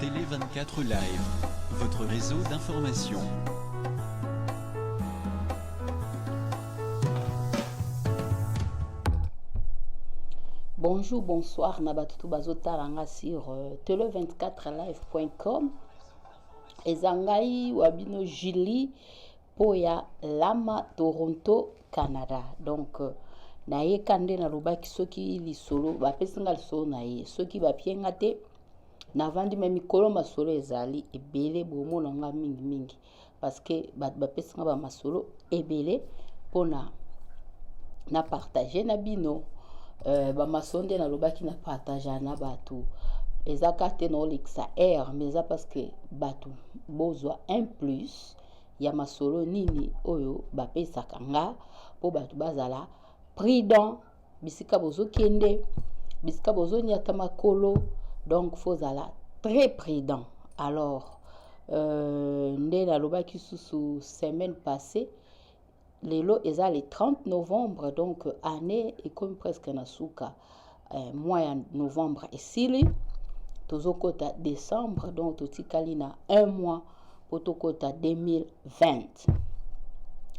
Télé 24 Live, votre réseau d'information. Bonjour, bonsoir, Nabatutu Bazo Taranga sur euh, tele24live.com. Ezangai Wabino Julie mpo ya Lama Toronto Canada donc nayeka nde nalobaki soki lisolo bapesi nga lisolo na ye soki bapie nga te navandi me mikolo masolo ezali ebele bomona nga mingimingi parce que bato bapesi nga bamasolo ebele mpona na partage na bino uh, bamasolo nde nalobaki na partage na bato eza kaka te naolekisa aire mais eza parce que bato bozwa un plus uh, ya masolo nini oyo bapesaka nga mpo bato bazala prudent bisika bozokende bisika bozoniata makolo donc fozala très prudent alors euh, nde nalobaki susu semaine passée Lelo eza le 30 novembre donc annee ekomi presque na suka. Eh, mois ya novembre esili tozokota décembre donc totikali na un mois mpo tokota 2020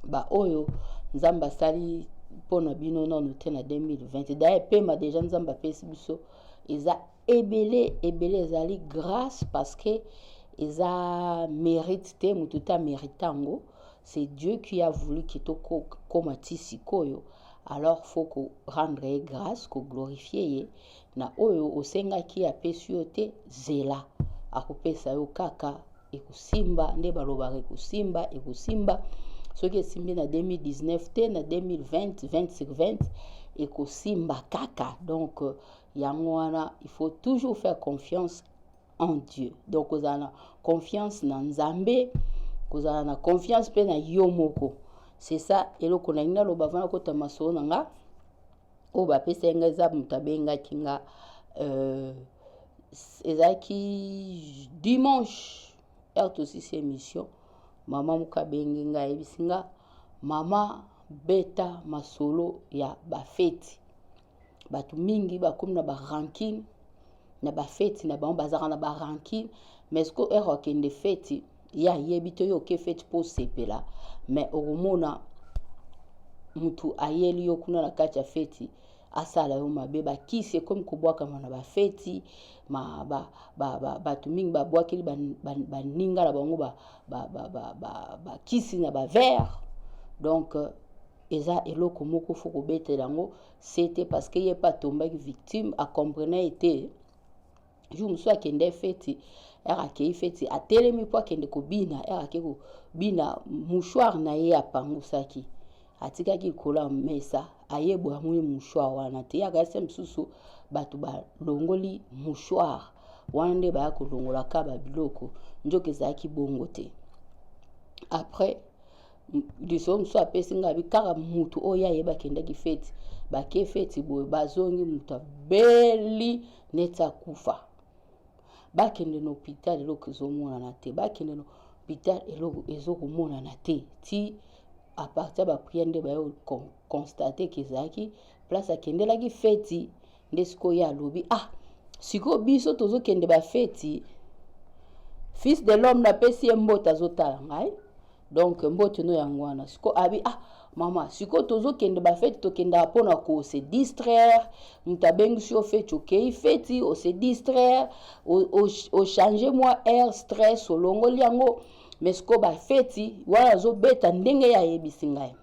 baoyo nzambe asali mpo na bino nano te na 2020 daye pema deja nzambe apesi biso eza ebele ebele ezali grace parce que eza mérite te moto te amérite yango c'est dieu qui a voulu ke tokoma ti sikoyo alors faut ko rendre ye grâce ko glorifie ye na oyo osengaki apesi yo te zela akopesa yo kaka ekosimba nde balobaka ekosimba ekosimba soki esimbi na 2019 te na 2020 20 sur 20 ekosimba kaka donc euh, yango wana il faut toujours faire confiance en dieu donc kozala na confiance na nzambe kozala na confiance mpe na yo moko c'est ça eloko nalingi naloba vana kota masolo na nga oyo bapesaki nga eza moto abengaki nga euh, ezalaki dimanche heure tosisi émission mama moko abengi nga ayebisi nga mama beta masolo ya bafeti bato mingi bakomi na barankine na bafeti na bango bazalaka na barankine mais siko ere okende feti ye ayebi to yo oke feti mpo osepela mais okomona motu ayeli yo kuna na kati ya feti asala yo mabe bakisi ekomi kobwakama na bafeti bato ba, ba, ba, ba, mingi babwakeli baninga na bango bakisi ba, ba, ba, ba, na bavere donc euh, eza eloko moko fo kobetela yango sete parce que ye pe atombaki victime acomprena ye te jour mosusu akende feti ere akei feti atelemi mpo akende kobina ere ake kobina mouchoir na ye apangusaki atikaki likolo ya mesa aye boye amoni mouchoir wana te yaka se mosusu bato balongoli mouchoir wana nde baya kolongolaka babiloko nzoka ezalaki bongo te après lisolo mosusu apesi ngai abi kaka motu oyo aye bakendaki feti bake feti boye bazongi moto abeli neti akufa bakende na hopital eloko ezomonana te bakende na hopital eloko ezokomonana te ti apartir bapriere nde bayo constate ke ezalaki place akendelaki feti nde sikoyo ye alobi ah sikoyo biso tozokende bafeti fils de l'homme napesi ye mbote azotala ngai donc mbote no yango wana sikoyo abi ah mama sikoyo tozokende bafeti tokendaka mpo na kose distraire moto abengisi yo feti okei feti ose distraire ochange mwa air stress olongoli yango mais sikoyo bafeti wana azobeta ndenge ye ayebisi ngai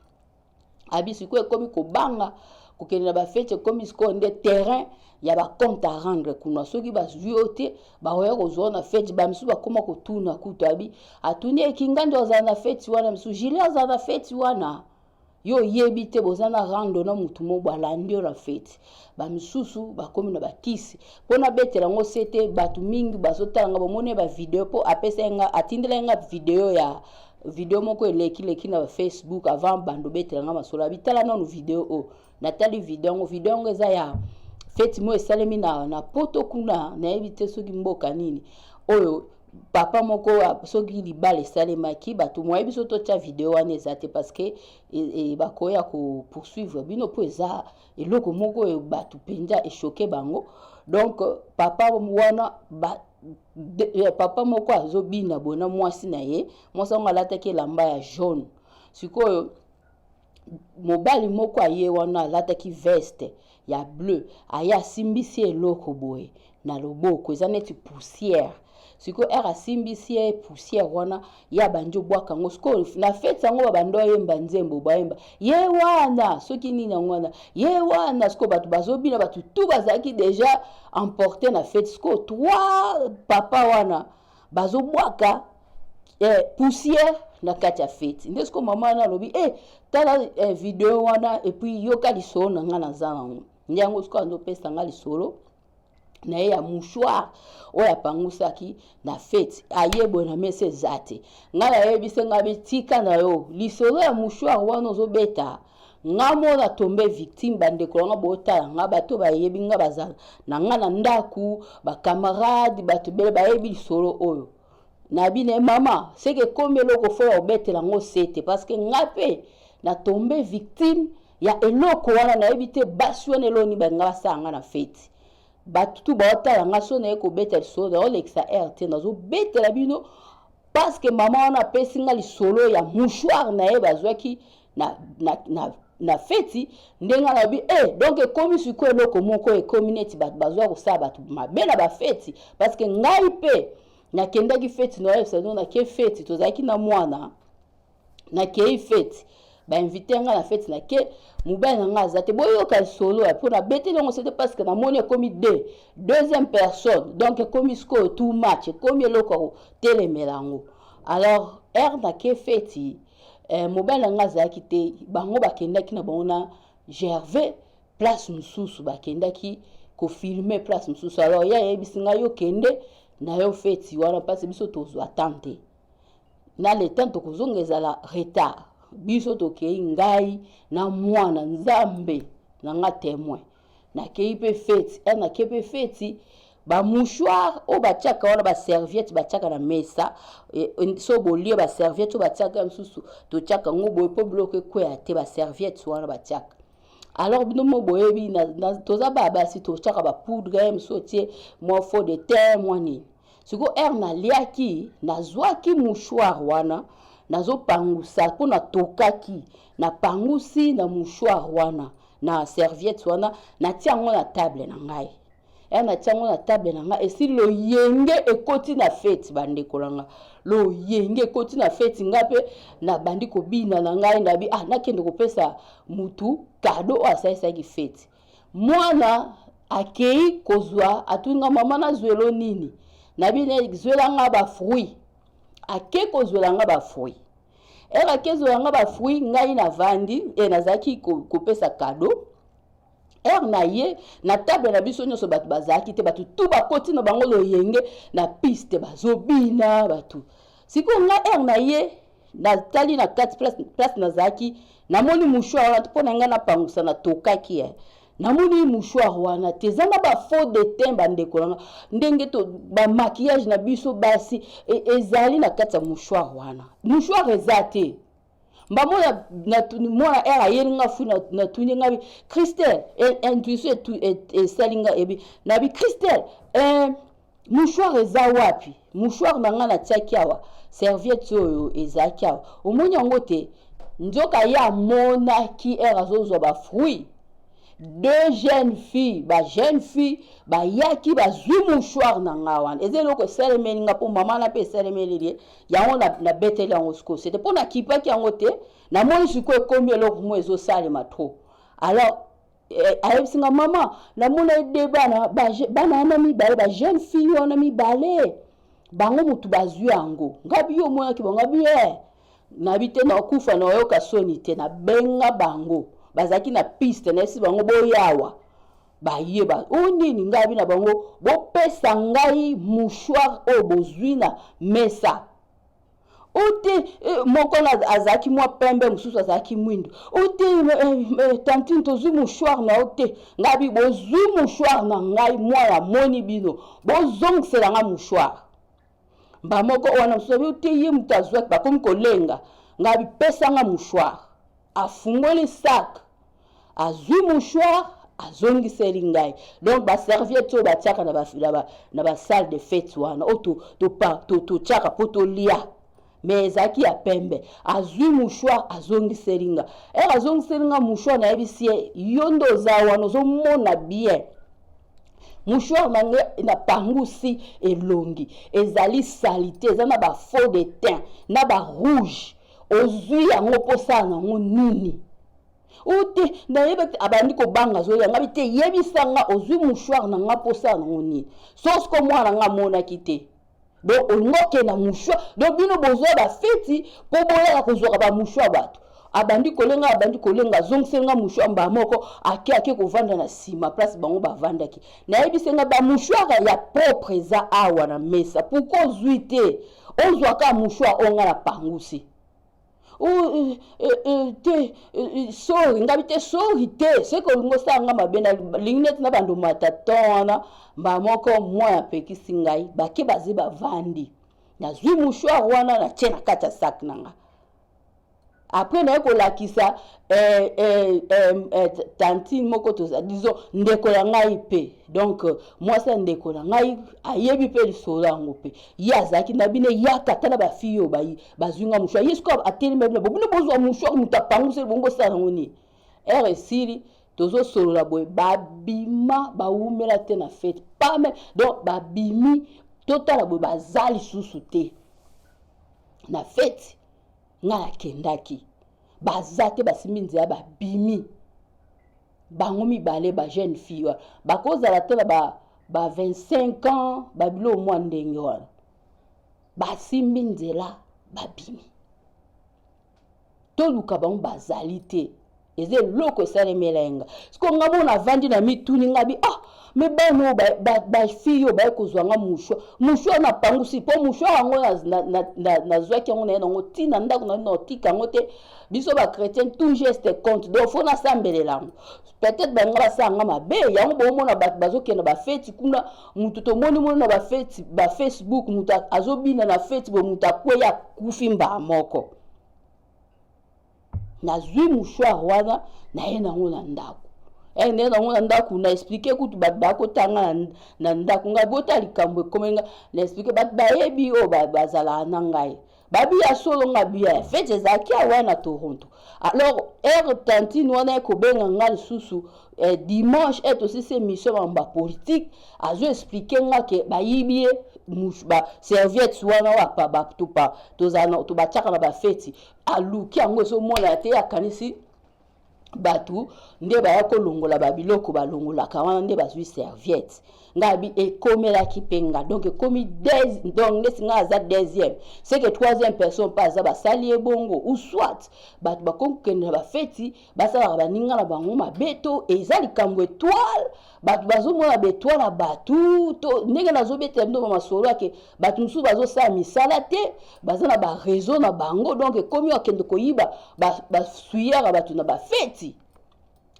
abi sikoyo ekomi kobanga kokende na bafeti ekomi sikoyo nde terrain ya bacompte à rendre kuna soki bazwi yo te bakoya kozwa na feti bamisusu bakóma kotuna kutu abi atuni ekingandi ozala na feti wana misusu jili azala na feti wana yo oyebi te boza na rando na motu moko alandi yo na feti bamisusu bakomi na bakisi mpo nabetela yango se te bato mingi bazotala nga bamoni ye bavideo mpo apesaki nga atindelaki nga video ya video moko elekileki na facebook avant bando obetela nga masolo abitala nanu video oyo natali video yango video yango eza ya feti moko esalemi na, na poto kuna nayebi te soki mboka nini oyo papa moko soki libala esalemaki bato moyebi so totya video wana eza te parce que e, e, bakoya kopoursuivre bino mpo eza eloko moko oyo bato mpenza eshoke bango donc papa wana ba, de, eh, papa moko azobina boye na mwasi na ye mwasi yango alataki elamba ya jaune sikoyo mobali moko aye wana alataki veste ya bleu aye asimbisi eloko boye na loboko eza neti poussière sikoyo ere asimbisi ye poussière wana ye abandi obwaka yango sikoyo na feti yango babanda oyemba nzembo bayemba ye wana soki nini yango wana ye wana sikoyo bato bazobina bato tu bazalaki deja emporte na feti sikoyo trois papa wana bazobwaka eh, poussière na kati ya feti nde sikoyo mama wana alobi e eh, tala eh, video wana epuis yoka lisolo na ngai naza nango nde yango sikoyo azopesa ngai lisolo na ye ya mouchoir oyo apangusaki na feti aye boye na mesa eza te ngai nayebise ngai bitika na yo lisolo ya mouchoir wana ozobeta nga mona tombe victime bandeko na nga botala nga bato bayebi nga bazala na nga na ndako bakamarade bato bele bayebi lisolo oyo na bino mama seke ekomi eloko fo ya kobetela yango sete parceke nga mpe na tombe victime ya eloko wana nayebi te basi wana eloni balinga basala nga na feti bato tu baotala nga so naye kobeta lisolo naolekisa rt nazobetela bino parceke mama wana apesi nga lisolo ya mouchoire na ye bazwaki na, na, na na feti ndenge alobi e eh, donk ekomi sikoyo eloko moko ekomi neti bato bazwa kosala bato mabe na bafeti parceke ngai mpe nakendaki feti noyebisa no nake feti tozalaki na mwana nakei feti bainvite ngai na feti nake mobali na ngai aza te boyoka lisolo ya mpo nabeteli yango sete parce que namoni ekomi de deuxième personne donc ekomi sikoyo tout match ekomi eloko ya kotelemela yango alors ere nake feti eh, mobali na ngai azalaki te bango bakendaki na bango na gervais place mosusu bakendaki kofilme place mosusu alors ye ayebisi ngai yo kende na yo feti wana mpasi biso tozwa tan te na le temps tokozonga ezala retard biso tokei ngai na mwana nzambe na nga temoin nakei mpe feti eh, nakei mpe feti bamouchoire oyo batiaka wana baserviette batiaka na mesa eh, so bolie baserviette oyo batiaka ya mosusu totiaka yango boye mpo biloko ekweya te baserviette wana batiaka alors bino mo boyebi toza babasi totiaka bapoudre mosusu otie mwa faux de teint mwa nini siko ere naliaki nazwaki mouchoir wana nazopangusa mpo natokaki napangusi na mouchoir wana na serviette wana natia yango na table na ngai ere natia yango na table na ngai esi loyenge ekoti na feti bandeko na ngai loyenge ekoti na feti ngai mpe nabandi kobina na ngai nabi ah nakende kopesa mutu kado oyo asalisaki feti mwana akei kozwa atuni nga mama nazwelo nini na bino zwela nga bafruit ake kozwela nga bafruit ere ake zwela nga bafruit ngai navandi e eh, nazalaki kopesa kado ere na ye na table na biso nyonso bato bazalaki te bato tu bakoti na bango loyenge na piste bazobina bato sikoyo nga ere na ye natali na kati place, place nazalaki namoni mouchoir wana mpo na ngai napangusa natokaki eh. namoni mouchoir wana te eza na bafaux detin bandeko nanga ndenge to bamakiyage na biso basi e, ezali na kati ya mouchoir wana mouchoir eza te mbamo mwana r ayeli nga fui natuni nga bi christelle intuition esali nga ebi na bi christelle eh, Mouchoir eza wapi? Mouchoir na nga na tiaki awa serviette oyo ezalaki awa omoni yango te? Nzoka ye amonaki ere azozwa ba fruit deux jeunes filles ba jeunes filles bayaki bazwi mouchoir na nga wana eza eloko esalemeli nga mpo mama na mpe esalemeli ye yango nabeteli yango sikoyo sete mpo nakipaki yango te namoni sikoyo ekomi eloko mo ezosalema trop alors Eh, ayebisi nga mama namona ye de bana bana wana mibale ba jeune fille wana mibale bango motu bazwi yango ngabi yo omonaki bango ngabi ye eh, nabi te nakufa nayoka soni te nabenga bango bazalaki na piste nayebisi bango boyawa baye ba o oh, nini ngai abi na bango bopesa ngai mouchoir oyo bozwi na mesa ute moko azalaki mwa pembe mosusu azalaki mwindo ute tantine tozwi mouchoir na yo te ngai bi bozwi mouchoir na ngai mwa namoni bino bozongisela ngai mouchoir bamoko wana mosusu abi ute ye moto azwaki bakomi kolenga ngai bipesa ngai mouchoir afungoli sak azwi mouchoir azongiseli ngai donc baserviette oyo batiaka na basalle de fete wana oyo totyaka mpo tolia me ezalaki ya pembe azwi mouchoir azongiseli nga ere azongiseli nga mouchoir nayebisi ye yo nde oza wana ozomona bien mouchoir na ngai napangusi elongi ezali salite eza na bafaux de teint na barouge ozwi yango mposala nango nini ote nayeba te abandi kobanga azoya ngabi te yebisa nga ozwi mouchoir na nga mposala nango nini sosko mwana nga amonaki te donc olingi okenda mouchoir donc bino bozwa bafeti mpo boyaka kozwaka bamouchoir bato abandi kolenga abandi kolenga azongiseli nga mouchoir mbaa moko ake ake kovanda na nsima place bango bavandaki nayebisi nga bamouchoir ya propre eza awa na mesa pourkoi ozwi te ozwaka mouchoir oyo nga na pangusi Euh, euh, euh, te sori ngabi te sori te soki olingi osala nga mabe nalingi neti na bando mata ton wana mba moko moi apekisi ngai bake baze bavandi nazwi mouchoir wana natye na kati ya sak na nga apres naye kolakisa eh, eh, eh, eh, tantine moko toza disons ndeko ya ngai mpe donc mwasi ya ndeko na ngai ayebi mpe lisolo yango mpe ye azalaki na bino eyaka ata na bafiye oyo bayi bazwi nga mouchoir ye sikoyo atelemi babi na bo bino bozwa mouchoir moto apanguseli bongo bosala yango nini ere esili tozosolola boye babima bawumela te na fete pame donc babimi totala boye baza lisusu te na fete ngai nakendaki baza te basimbi nzela babimi bango mibale ba jeune fille wana bakozala te na ba, ba 25 ans babilo mwa ndenge wana basimbi nzela babimi toluka bango bazali te eza eloko esalemela ye nga siko nga mona avandi na mituni nga bi ah me bana oyo bafille oyo baye kozwa nga mushwa mushwa na pangusi mpo mushwa yango nazwaki yango naye nango ti na ndako nayo naotika yango te biso bachrétien tout geste compte donc fo nasambelela yango peut-être balinga basala nga mabe yango boomona bato bazokenda bafeti kuna mutu tomoni moni na bafeti bafacebook mutu azobina na feti boye mutu akwei akufi mbaa moko nazwi mouchoir wana naye nango na ndako eh, naye nango na ndako na explike kutu bato bakotanga na, na ndako ngai bota likambo ekomi ngai na explike bato bayebi oyo bazalaka na ngai babi ya solo nga biya ya fete ezalaki awa na toronto alors ere tantine wana ekobenga nga lisusu eh, dimanche ete osisi émission bango bapolitike azo explike nga ke bayibi ye baserviette wana wapa batupa tobatiaka na bafeti aluki yango ezomonana te akanisi bato nde baya kolongola babiloko balongolaka wana nde bazwi serviette ngai abi ekomelaki mpe nga donc ekomi donc ndeti ngai aza deuxième seke troisième personne mpe aza basali ye bongo ou soit bato bakoki kokende na bafeti basalaka baninga na bango mabe to eza likambo etoile bato bazomona betwa na bato to ndenge nazobetela bino bamasolo ake bato mosusu bazosala misala te baza na bareseau na bango donk ekomi akende koyiba basuyaka bato na bafeti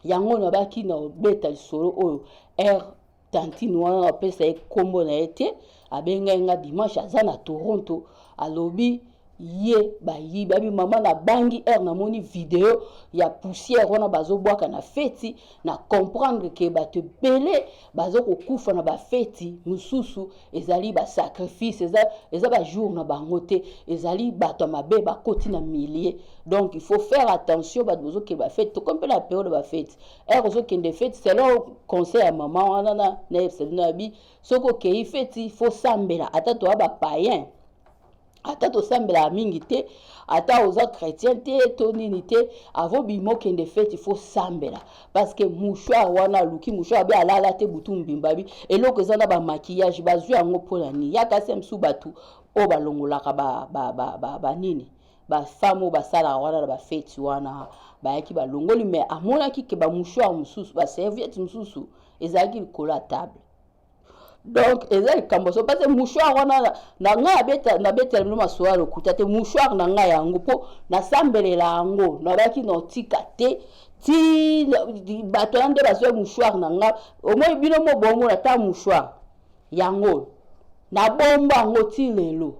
yango nabaki na obeta lisolo oyo r tantine wana napesa ye nkombo na ye te abengai nga dimanche aza na toronto alobi ye bayibi abi mama na bangi heure namoni video ya poussière wana bazobwaka na feti na comprendre ke bato ebele bazokokufa na bafeti mosusu ezali basacrifice eza, eza bajour na bango te ezali bato ya mabe bakoti na milieu donc il faut faire attention bato bozokende bafeti tokomi mpe na periode bafeti heure ozokende feti selon conseil ya mama wana na na episode na yabi soki okei feti fosambela ata toya bapayen ata tosambelaka mingi te ata oza chrétien te to nini te avo bima okende feti fo sambela parceke mouchoir wana aluki mouchoir be alala te butu mbimba bi eloko eza na bamakillage bazwi yango mpo na nini ya kasi ya mosusu bato oyo balongolaka banini ba, ba, ba, ba, bafame oyo basalaka wana na bafeti wana bayaki balongoli mai amonaki ke bamouchoir mosusu baserviete mosusu ezalaki likolo ya table donc eza likambo so parce mouchoir wana na ngai abeta nabetela bino masolo ya lokuta te mouchoir na ngai yango mpo nasambelela yango nabaki na otika te ti bato wana nde bazwa mouchoir na ngai omoi bino mo bomona ta mouchoir yango nabomba yango ti lelo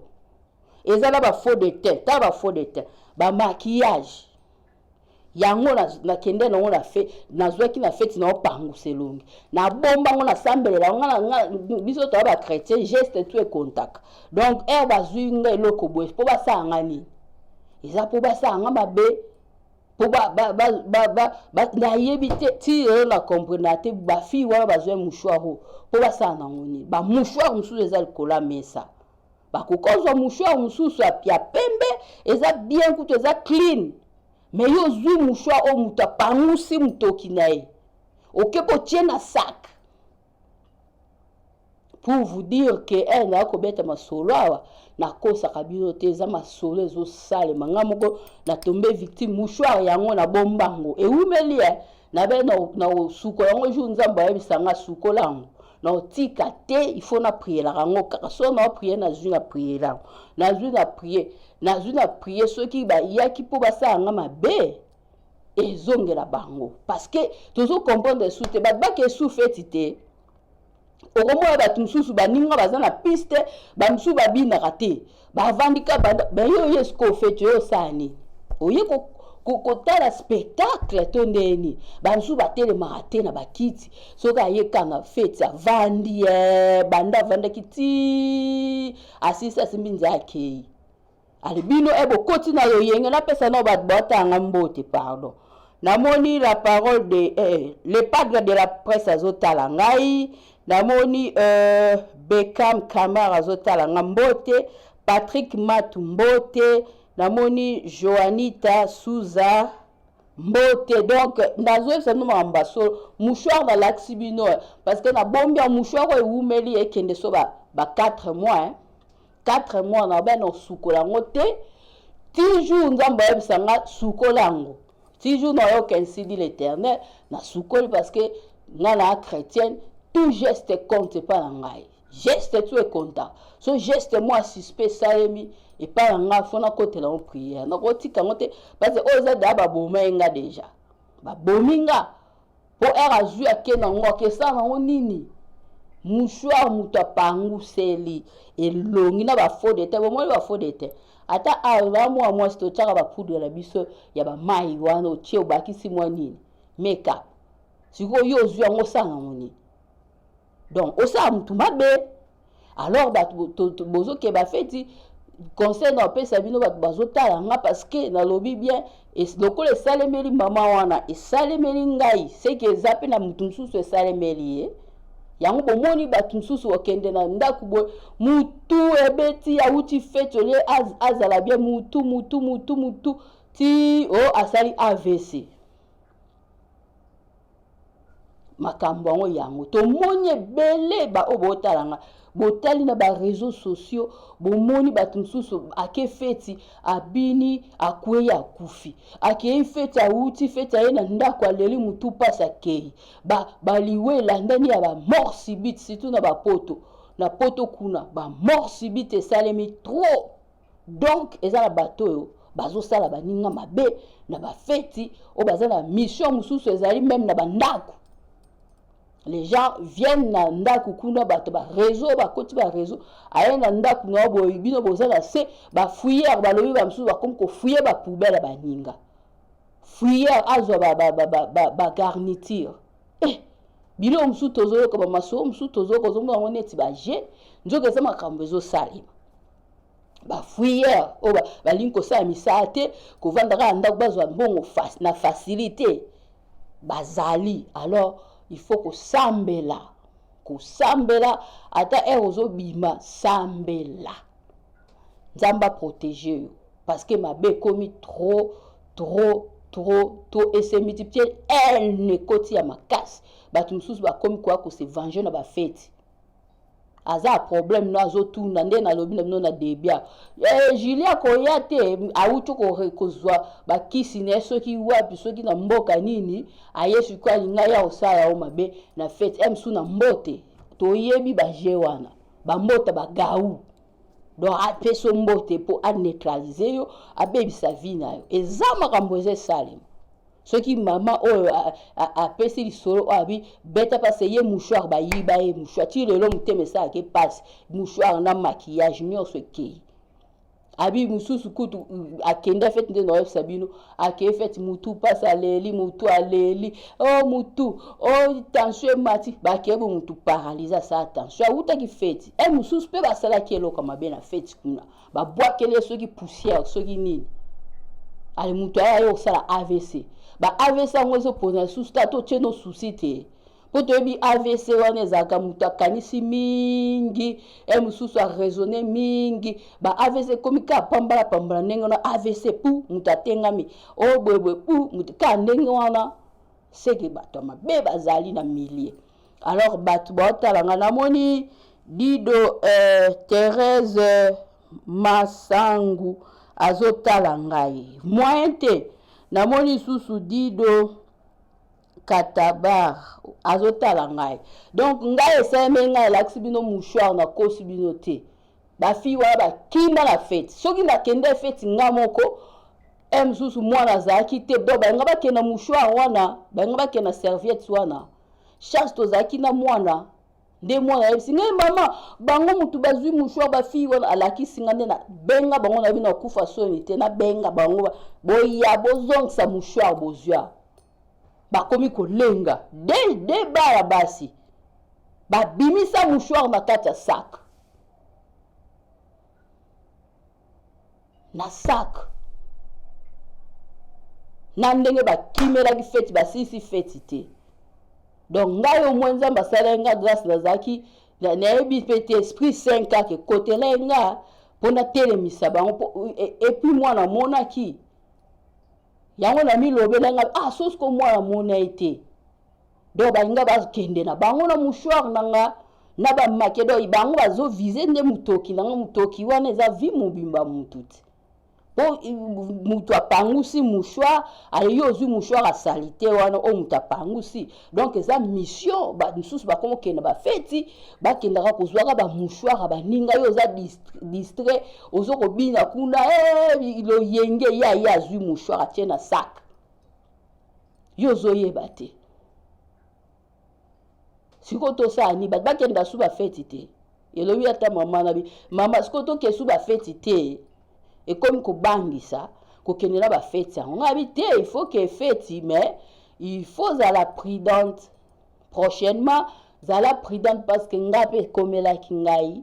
eza na bafaux de teint ta bafaux de teint bamakillage yango nakende nango na fe nazwaki na feti na opangusa elongi nabomba yango nasambelela yango nga biso toya bachrétien geste tu ekontaka donc ere bazwi nga eloko boye mpo basala nga nini eza mpo basala nga mabe mpo nayebi te ti lelo na comprena te bafille wana bazwa mouchoir oyo mpo basala nango nini bamouchoir mosusu eza likolo ya mesa bakoki kozwa mouchoir mosusu ya pembe eza bien kutu eza clean me yo ozwi mouchoir oyo moto apangusi motoki na ye oke kotie na sak pour vous dire ke eh, naya kobeta masolo awa nakosaka bino te eza masolo ezosalema ngai moko natombe victime mouchoir yango nabomba yango ewumeli e na be na kosukola yango jour nzambe ayebisa ngai sukola yango naotika te il faut na prielaka yango kaka so nao prie nazwi na priela yango nazwi na prie nazwi na prie soki bayaki mpo basala nga mabe ezongela bango parce que tozo comprendre esu te bato bake esu feti te okomona bato mosusu baninga baza na piste bamosusu babinaka te bavandi ka banda me yo oye sikoyo feti oyo osala nini oye kotala spectacle to ndeni basusu batelemaka te na bakiti soki aye kanga feti avandi eh, banda avandaki ti asisi asimbi nzela akei ale bino e bokoti na loyenge napesa nao bato baotanga mbote pardon namoni la parole de eh, le padre de la presse azotala ngai Namoni euh, Beckham Kamara azotala nga mbote, Patrick Matu mbote, namoni Joanita Souza mbote donc nazoyebisa bino makambo basolo mouchoir nalakisi bino eh, parce que nabombi ya mouchoir oyo ewumeli ekende so ba, ba 4 mois eh. 4 mois na bana osukola yango te ti jour nzambe ayebisa nga sukola yango ti jour nayoka ainsi dit l'éternel nasukoli parce que nga na chrétienne tout geste compte epai na ngai geste tu ekonta so geste mwa suspect esalemi epai na ngai fo nakotela yango prière nakotika yango te parce oyo eza deya baboma ye nga deja babomi nga Po heure azui ake na ngo akesala na ngo nini? Mouchoir moto apanguseli elongi na ba faux de teint. Bomoni ba faux de teint? Ata awa ozala mwana mwasi te otiaka ba poudre na biso ya ba mayi wana otie obakisi mwa nini? Make up. Sikoyo yo ozui yango osala na ngo nini? donc osala motu mabe alors bato bozokeba feti conseil na opesa bino bato bazotala nga parceke nalobi bien lokola esalemeli mama wana esalemeli ngai seke eza mpe na motu mosusu esalemeli ye eh? yango bomoni bato mosusu okende na ndako boye mutu ebeti awuti feti olie azala bie mutu mutu mutu mutu ti o oh, asali avc makambo yango yango tomoni ebele baoyo botala nga botali na bareseau sociaux bomoni bato mosusu ake feti abini akwei akufi akei feti awuti feti aye na ndako aleli motu mpasi akei baliwa ba elandani ya bamort sibite surtout na bapoto na poto kuna bamort sibite esalemi trop Donc eza na bato oyo bazosala baninga mabe na bafeti oyo baza na mission mosusu ezali meme na bandako les gens viennent na ndako kuna bato ba réseau bakoti ba réseau aye na ndako na yo boye bino boza na se bafouilleur balobi ba mosusu bakomi kofouille bapoubele ya baninga fouilleur azwa bagarniture ba, ba, ba, ba eh, biloko mosusu tozoyoka bamasolo mosusu tozoyoka ozomona yango neti baje nzoka eza makambo ezosalema bafouilleur oyo balingi kosala misala te kovanda kaka ndako bazwa mbongo na facilité bazali alors il faut kosambela kosambela ata ere ozobima sambela nzambe aprotege yo parce que mabe ekomi trop trop trop trop et se multiplier haine ekoti ya makasi bato mosusu bakomi koya kose venger na bafeti aza problème no azotuna nde nalobi na bino na debia eh, julie akoya te awuti kozwa bakisi na ye soki wapi soki na mboka nini aye sikoyo alinga ya kosala yango mabe na fete msu na mbote toyebi baje wana bambota bagau donc apesi yo mbote mpo aneutralize yo abebisa vie na yo eza makambo eza esalema Soki mama oyo apesi lisolo oyo abi beta pase ye mouchoir bayiba ye mouchoir ti lelo motema esalaka ye pasi mouchoir na maquillage nyonso ekei abi mosusu kutu akenda fete nde naoyebisa bino akei fete motu mpasi aleli motu aleli o oh, motu o oh, tension emati bakei bo motu paralyse asala tension awutaki feti e eh, mosusu mpe basalaki eloko mabe na feti kuna babwakeli ye soki poussière soki nini ale moto aya ye kosala avc ba avc yango ezopona lisusu ta totie no susi te mpo toyebi avc wana ezalaka moto akanisi mingi e mosusu araisonne mingi ba avc ekomi kaka pambala pambala ndenge wana avc pu moto atengami o oh, boyeboye pu moto kaka ndenge wana seke bato ya mabe bazali na milie alors bato baotala nga namoni dido euh, therese euh, masangu azotala ngai moyen te namoni susu dido katabar azotala ngai donc ngai esalemi ngai elakisi bino mouchoir nakosi bino te ba fille wana bakima na feti soki nakenda feti nga moko e mosusu mwana azalaki te donc balinga bakenda mouchoir wana balinga bakenda serviette wana charge tozalaki na mwana nde mwana ayebisi ngai mama bango motu bazwi mouchoir bafille wana alakisi ngai nde na benga bango nayebi na kufa soni te nabenga bango boya bozongisa mouchoir bozwa bakomi kolenga de de bana basi babimisa mouchoir na kati ya sac na sac na ndenge bakimelaki feti basilisi feti te donc ngai omoi nzambe asalaki nga grâce nazalaki nayebi mpe te esprit saint kaka ekotelai nga mpo natelemisa bango epuis e, mwana amonaki yango namilobela nga ah sosi ko mwana amona ye te donc balinga bakende na bango na mouchoir na nga na bamake donc bango bazovize nde motoki na nga motoki wana eza vi mobimba motu te mpo motu apangusi mouchoir ayeyo ozwi mouchoir asalite wana oyo motu apangusi donc eza mission mosusu bakoma okenda bafeti bakendaka kozwaka bamouchoir ya baninga yo oza distrait ozo kobina kuna eh, loyenge ye aye azwi mouchoir atie na saka yo ozoyeba te sikoyo tosala nini bato bakenda su bafeti te elobi ata mama na bi mama sikoyo tokende su bafeti te ekomi kobangisa kokende na bafeti yango ngai abi te il faut ke feti mais il faut zala prudente prochainement zala prudente parce que ngai mpe ekomelaki ngai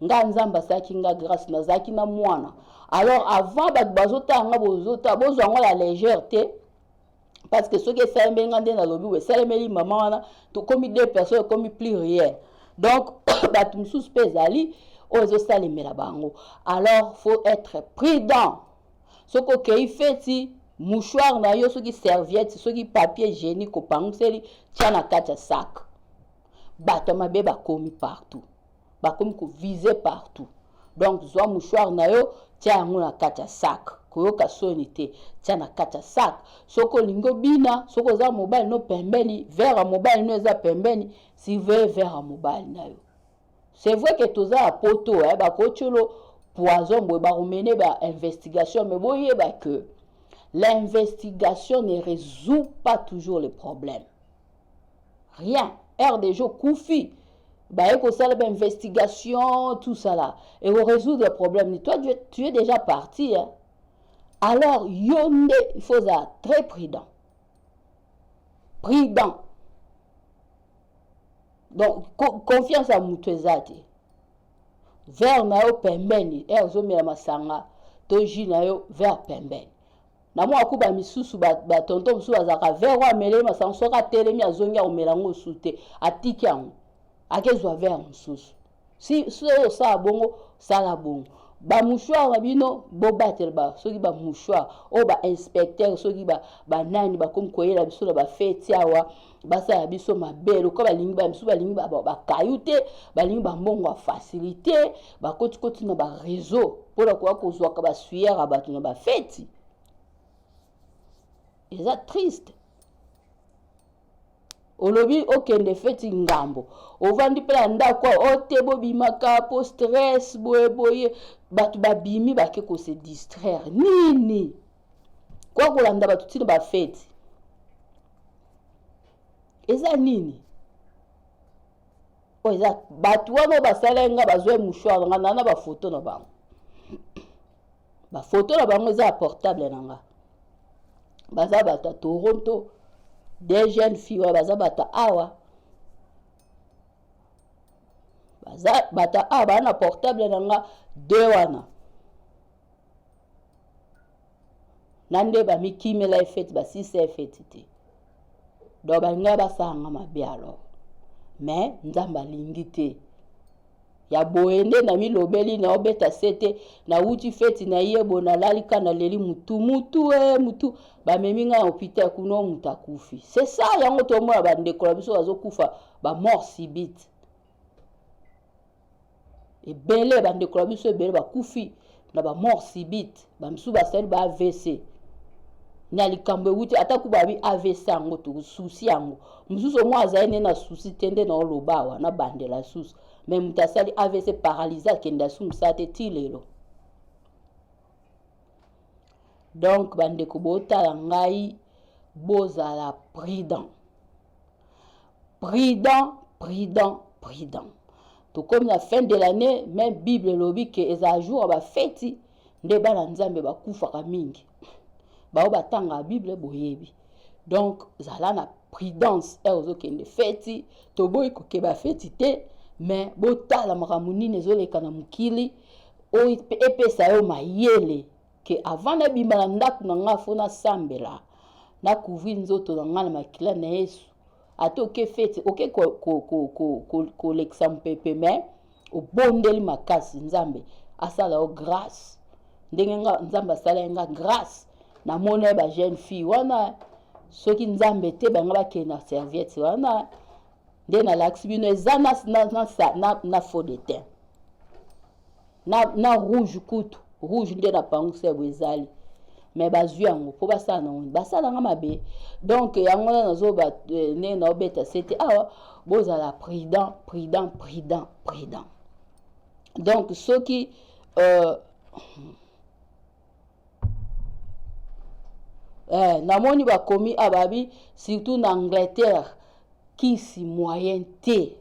nga nzambe asalaki nga grâce nazalaki na mwana alors avant bato bazotala nga bozota bozwa ngo ya légère te parce que soki esalemeli nga nde nalobi we esalemeli mama wana tokomi deux personnes ekomi plus rien donc bato mosusu mpe ezali oyo ezosalemela bango alors faut être prudent soki okei feti mouchoir na yo soki serviette soki papier hygiénique opangiseli tya na kati ya sac bato ya mabe bakomi partout bakomi ko vise partout donc zwa mouchoir na yo tia yango na kati ya sac koyoka soni te tia na kati ya sac soki olingi obina soki oza mobali no pembeni vere ya mobali no eza pembeni surveille vere ya mobali na yo c'est vrai ke toza ya poto eh, bakotiolo poison boye bakomene ba investigation me boyeba ke l'investigation ne résout pas toujours le problème rien rdg okufi baye kosala ba investigation tout ça là et ko résoudre problème ni toi tu es déjà parti hein? alors yo nde il faut ozala très prudent prudent donc co confiance ya moto eza te vert na yo pembeni e ozomela masanga to jus na yo vert pembeni na mwa kuba misusu batonto ba mosusu bazalaka vere oyo ameleli masango soki atelemi azongi akomela yango mosusu te atiki yango akezwa vere mosusu si soki osala bongo sala bongo bamouchoire na bino bobatelba soki bamouchoire oyo bainspecteur soki banani bakomi koyela biso na bafeti awa basala biso mabe lokola balingi bamisusu balingi bakayu te balingi bambongo ya facilité bakotikoti na bareseau mpo na koya kozwaka basuyer ya bato na bafeti eza triste olobi okende feti ngambo ovandi mpe na ndako ote bobimaka mpo stress boye boye bato babimi bake kose distraire nini Kwa kolanda bato ntina bafeti eza nini oyo eza bato wana oyo basala nga bazwa mouchoir nga naa na bafoto na bango bafoto na bango eza ya portable na nga baza bato ya toronto de jeune fille wana baza bato awa baza bato awa baa na portable na nga de wana na nde bamikimela efeti basilisa efeti te donc balinga basalanga mabe alors me nzambe alingi te ya boye nde namilobeli naobeta sete nauti feti na ye boye nalali ka naleli mutu mutu e eh, mutu bamemi ngai na hopital kuna moto akufi c'est ça yango tomona bandeko na biso bazokufa bamort sibite ebele bandeko na biso ebele bakufi na bamort subite bamisusu basali ba avc na likambo ewuti ata kuba abi avc yango tosusi yango mosusu omoi azali nde na susi te nde na oloba awa na bandela susu me moto asali avc paralyse akende asumisa te ti lelo donk bandeko botala ngai bozala prudent Prudent, prudent, prudent. Tokomi na fin de l'année, mais Bible elobi que ezala jour ya ba feti nde bana Nzambe bakufaka mingi. Bao batanga Bible boyebi. Donc zala na prudence heure ozokende feti, toboyi kokeba feti te, mais botala makambo nini ezoleka na mokili oyo epesa yo mayele ke avant nabima na ndako na ngai fo nasambela na couvrir nzoto na ngai na makila na yesu ata oke fete oke kolekisa mopepe me obondeli makasi nzambe asala yo grâce ndenge nga nzambe asalaki nga grâce namona ye bajeune fille wana soki nzambe te bango bakende na serviette wana nde nalakisi bino eza na, na, na, na, na faux de teint na, na rouge kutu rouge nde na pangu sebo ezali me bazwi yango mpo basala nango basala nga mabe donk yango na nazoba eh, nde naobeta sete awa bozala prudent prudent prudent prudent donk soki euh, eh, namoni bakomi ababi surtout na angleterre kisi moyen te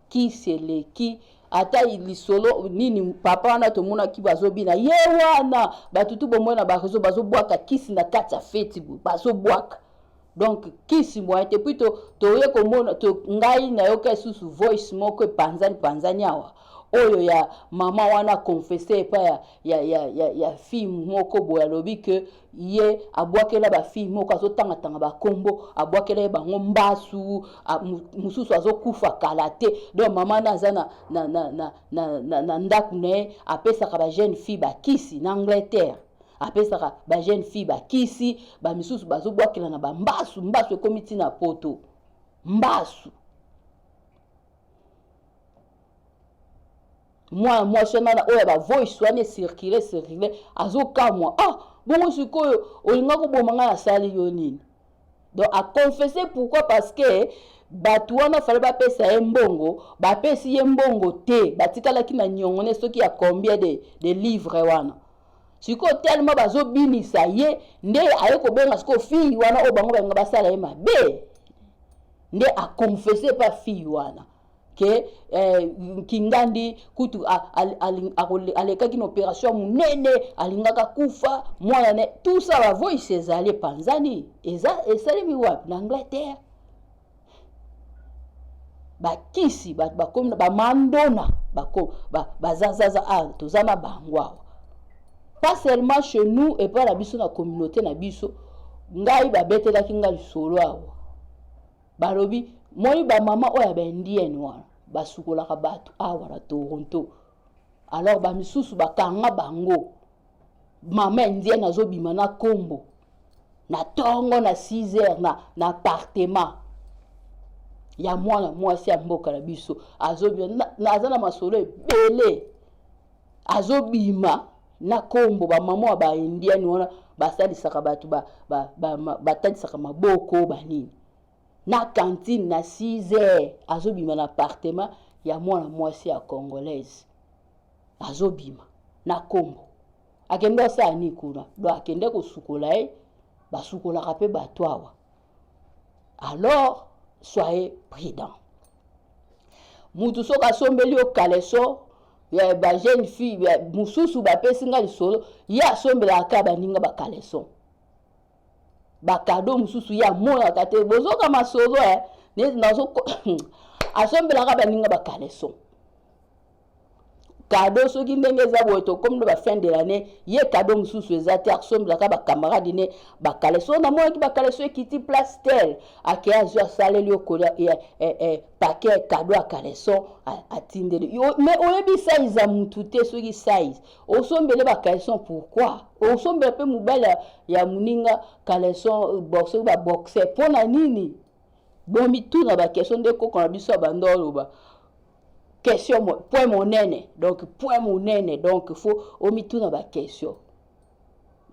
kisi eleki ata lisolo nini papa wana tomonaki bazobina ye wana bato tu bomoi na bareseau bazobwaka kisi na kati ya feti boye bazobwaka donc kisi moyen te puis toye komona to, ngai nayoka lisusu voice moko epanzani panzani awa oyo ya mama wana confesse epai ya, ya, ya, ya, ya fille moko boye alobi ke ye abwakela bafille moko azotangatanga bakombo abwakela ye bango mbasu mosusu azokufa kala te donc mama na aza na, na, na, na, na, na, na ndako na ye apesaka bajeune fille bakisi na angleterre apesaka bajeune fille bakisi bamisusu bazobwakela na bambasu mbasu ekomi ntina poto mbasu mwana mwasi wana na oyo ya bavoice wana esirkile esirkile azokamwa ah bongo sikoyo olinga koboma ngai nasali yo nini donc aconfesse pourquoi parce que bato wana fale bapesa ye mbongo bapesi ye mbongo te batikalaki na nyongone soki ya combien de, de livre wana sikoyo telema bazobinisa ye nde aye kobenga sikoyo fille wana oyo bango balinga basala ye mabe nde aconfesse pa fille wana ke eh, nkingandi kutu alekaki na operation monene alingaka kufa mwana ne tout ça ba voice ezali epanzani eza esalemi wapi na angleterre bakisi bato bakomi bamandona bazazaza ba, ba, ah, toza na bango awa pas seulement chez nous epai na biso na communauté na biso ngai babetelaki ngai lisolo awa balobi moi ba mama oyo ya ba indienne wana basukolaka bato awa na toronto alors bamisusu bakanga bango mama indienne azobima na kombo na tongo na 6 heures na, na apartement ya mwana mwasi ya mboka na biso azobima naza na masolo ebele Azo bima na kombo ba maman ya ba indienne wana ba salisaka batu ba ba talisaka maboko ba nini na cantine na six heures azo bima na appartement ya mwana mwasi ya congolaise azo bima na kombo akende osala nini kuna donc akende kosukola ye basukolaka mpe bato awa alors soyez prudent mutu soki asombeli yo kaleso ya ba jeune fille mosusu bapesi nga lisolo ye asombelaka kaka baninga bakaleson bakado mosusu ye amonaka te bozoka masolo eh? asombelaka baninga bakaleson kado soki ndenge eza boye tokomi na bafin de l'année ye kado mosusu eza te akosombelaka bacamarade ne bakale so namonaki bakale so ekiti place tel ake azwi asaleli yo kolia eh, eh, eh, pake kado ya kaleson atindeli me oyebi size ya motu te soki size osombele bakaleson pourkui osombela mpe mobali ya moninga kaleson boxe baboxe mpo na nini bomituna bakestion nde koko na biso ya banda oloba question point monene donc point monene donc fo omituna ba question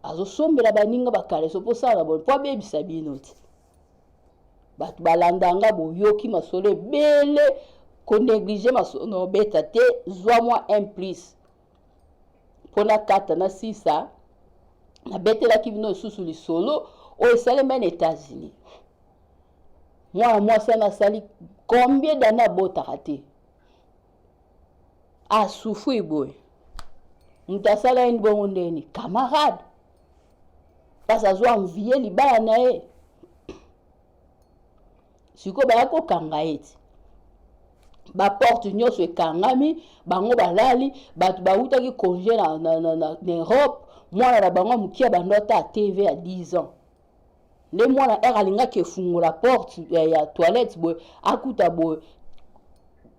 azosombela baninga bakaleso mpo osala na boni mpo abebisa bino ti bato balanda nga boyoki masolo ebele koneglige masolo na obeta te zwa mwa un plus mpo nakata na sisa nabetelaki bino lisusu lisolo oyo esalema na états-unis mwana mwasi wana asali combien dane abotaka te asufri boye moto asala ye bongo ndeni camarade mpasi azwa envie libala na ye sikoyo baya kokanga ye ti baporte nyonso ekangami bango balali bato bawutaki congé na, na, na, na, na europe mwana na bango ya moke abanda ata tv ya 10 ans nde mwana r alingaki efungola porte ya, ya toilette boye akuta boye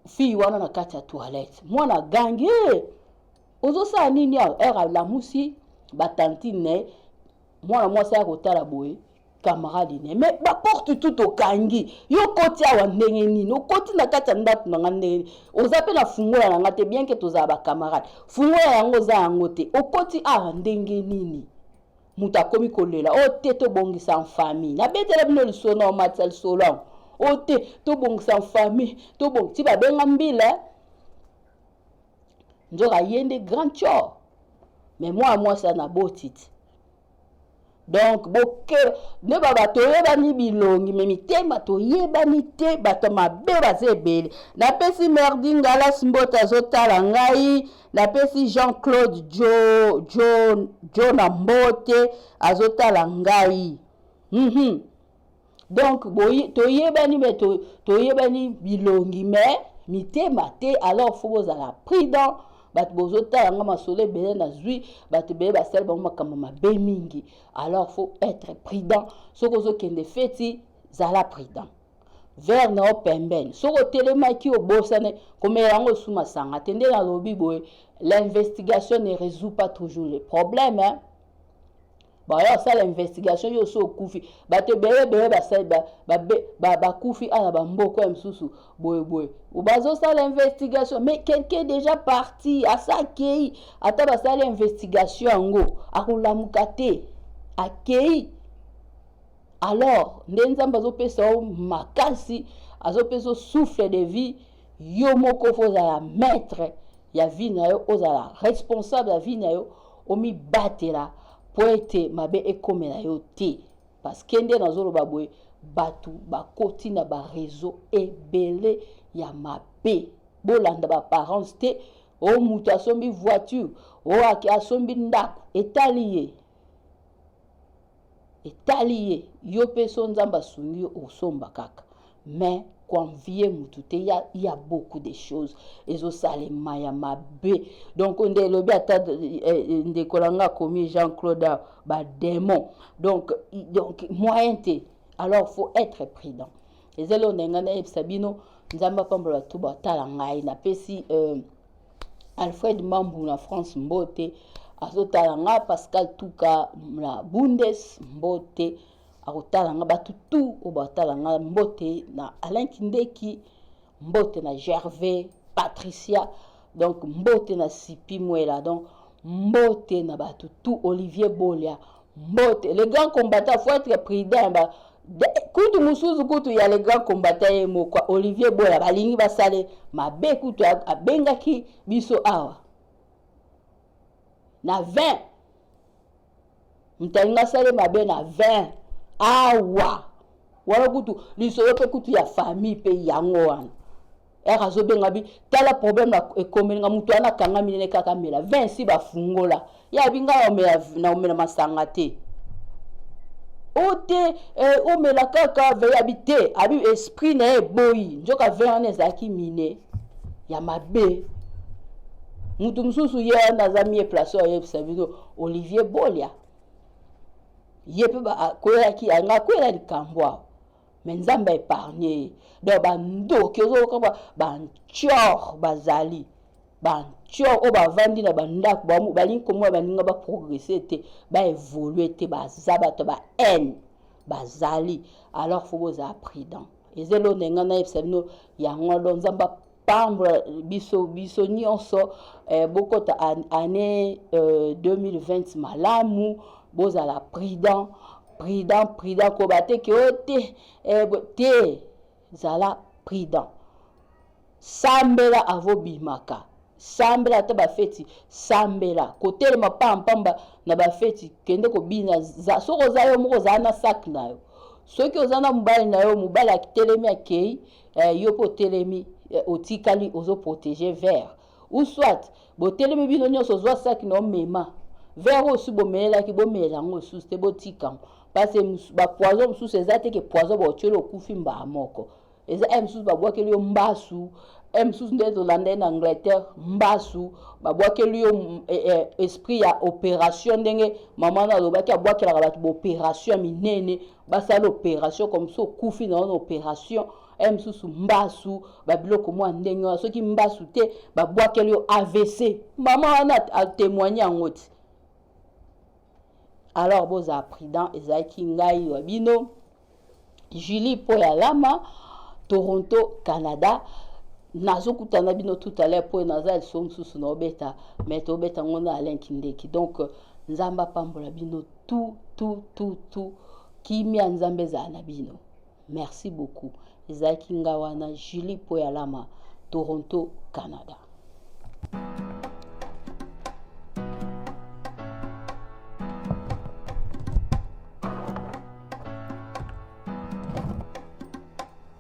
fille wana na kati ya toilette mwana agangi hey! Eh! ozosala nini awa r alamusi batantine na ye mwana mwasi aya kotala boye camarade ne mais baporte tout okangi yo okoti awa ndenge nini okoti na kati ya ndako na ngai ndenge nini oza mpe na fungola na ngai te bien ke tozala bacamarade fungola yango oza yango te okoti awa ndenge nini moto akomi kolela o oh, te tobongisa nfami nabetela bino lisolo na omatisa lisolo yango o oh, te tobongisa nfami tobong ti babenga mbila nzoka ye nde grand chor me mwana mwasi ya na botiti donk boke nde baba toyebani bilongi me mitema toyebani te bato mabe baza ebele napesi merdi ngalas mbote azotala ngai Napesi Jean Claude jo jo jo na mbote azotala ngai. Mm -hmm. Donc toyebani mais to, toyebani bilongi mais mitema te alors faut bozala prudent bato bozotala nga masolo ebele nazwi bato ebele basali bango makambo mabe mingi alors faut être prudent soki ozokende feti zala prudent vert na yo pembeni soki otelemaki obosane komela yango osu masanga te nde nalobi boye l'investigation ne résout pas toujours le problème hein? baoya kosala investigation yo osi okufi bato ebele ebele bakufi ba, ba, ba, ana bamboko ya mosusu boyeboye bazosala investigation mais quelqu'un déjà parti asa akei ata basala investigation yango akolamuka te akei alors nde nzambe azopesa yo makasi azopesa yo souffle de vie yo moko fo ozala maître ya vie na yo ozala responsable ya vie na yo omibatela mpo ete mabe ekomela yo te parceke nde nazoloba boye bato bakoti na bareseau ebele ya mabe bolanda baparence te o oh, moto asombi voiture o oh, asombi ndako etali ye etali ye yo mpe so nzambe asungi yo osomba kaka mais koenvie mutu te ya, ya beaucoup de choses ezosalema ya mabe donc nde elobi ata eh, eh, ndeko na nga akomi jean claude ah, bademon donc, donc moyen te alors faut être prudent ezali oyo na ngai nayebisa bino nzambe apambola bato batala ngai napesi euh, Alfred Mambu na France Mbote azotala nga Pascal Tuka na Bundes Mbote akotala nga bato tu oyo batala nga mbote na alain kindeki mbote na gervais patricia donc mbote na sipi mwela donc mbote na bato tu olivier bolia Mbote, le grand combattant faut être prudent ba kutu musuzu kutu ya le grand combattant ye moko Olivier Boya balingi basale mabe kutu abengaki biso awa na 20 mtalinga asale mabe na 20 awa wana kutu lisolo mpe kutu ya famille mpe yango wana ere azobenga bi tala problème na ekomeli nga moto wana akangami nene kaka mela vin esi bafungola ye abi ngai omela na omela masanga te o oh, te eh, omela kaka vin abi te abi esprit na ye eboyi nzoka vin wana ezalaki mine ya mabe moto mosusu ye wana aza mie place oyo ayebisa bino olivier bolia ye mpe akweyaki nga akwela likambo awa me nzambe aepargne ye donc bandoki ozoyoka bantior bazali bantior oyo bavandi na bandako balingi komona baninga baprogresse te baevolue te baza bato ba haine bazali alors fo bozala prudent eza elonda enga nayebisa bino yango alo nzambe pambola biso biso nyonso eh, bokota année euh, 2020 malamu bozala prudent prudent prudent koba te ke o te eh, te zala prudent sambela avobimaka sambela ata bafeti sambela kotelema pampamba na bafeti kende kobina soki oza yo moko ozala na saki na yo soki oza na mobali na yo mobali atelemi akei Eh, yo pe otelemi eh, otikali ozo proteger vert ou soit botelemi bino nyonso ozwa saki na omema vert oyo osi bomelelaki bomela yango lisusu te botika yango parce bapoison mosusu eza te ke poison baotyoli okufi mbaa moko eza e mosusu babwakeli yo mbasu e mosusu nde tolanda ye na angleterre mbasu babwakeli yo e, e, esprit ya opération ndenge mama na alobaki abwakelaka bato baopération minene basala operation comme so okufi na wana operation eye mosusu mbasu babiloko mwa ndenge wana soki mbasu te babwakeli yo avc mama wana atemoigne yango ti alors bozala prudent ezalaki ngai wa bino julie mpo ya lama toronto canada nazokutana bino tout à l'heure mpo naza liso mosusu na obeta mai tobeta ngo na alain kindeki donc nzambe apambola bino tu tu tu tu kimia nzambe ezala na bino merci beaucoup ezalaki nga wana julie mpo ya lama toronto canada